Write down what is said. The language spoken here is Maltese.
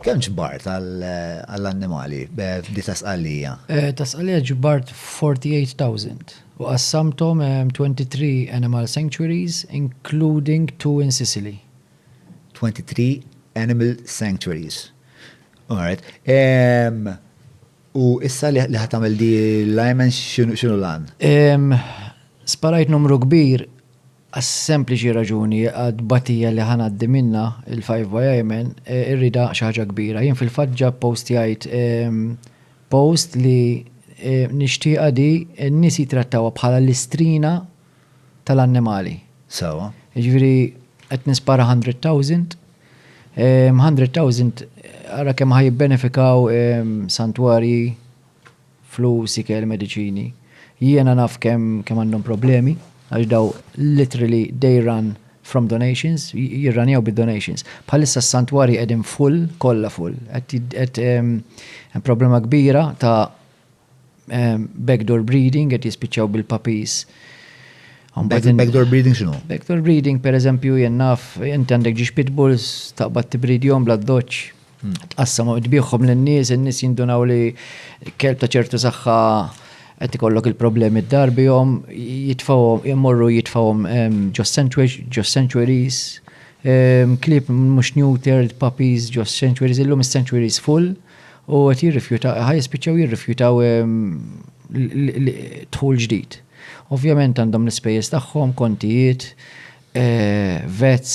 Kemm ġbart għall-annimali f'dik ta' Sqallija? Ta' Sqallija ġbart 48,000 u qassamthom 23 animal sanctuaries including two in Sicily. 23 animal sanctuaries. Alright. U issa li ħa tagħmel di l-ajmen x'inhu l-għan? Sparajt numru kbir għas-sempliċi raġuni għat-tbatija li ħa ngħaddi minnha, il-Five by Ayman, irridha xi ħaġa kbira. Jien fil-fatt ġa ppostjajt post li nixtieqha di n-nies jittrattawha bħala l-istrina tal-annimali. Sewwa. Jiġifieri qed nispara hundred thousand, hundred thousand ara kemm ħa jibbenefikaw santwarji, flus, ikel, mediċini. Jiena naf kemm kemm għandhom problemi għax daw literally they run from donations, jirranjaw bid-donations. Bħalissa s-santwarji qegħdin full, kollha full. Qed hemm problema kbira ta' backdoor breeding qed jispiċċaw bil-puppies. Backdoor breeding x'inhu? Backdoor breeding pereżempju jien naf inti għandek ġiex pitbulls taqbad tibridjhom bla doċċ tqassam u tbieħhom lin-nies, in-nies jindunaw li kelb ta' ċertu saħħa qed ikollok il-problemi d-dar bihom, jitfawhom, imorru jitfawhom ġo sanctuaries, klieb mhux neutered, puppies ġo sanctuaries, illum is-sanctuaries full u qed jirrifjutaw, ħaj jispiċċaw jirrifjutaw dħul ġdid. Ovvjament għandhom l-ispejjeż tagħhom, kontijiet, eh, vets,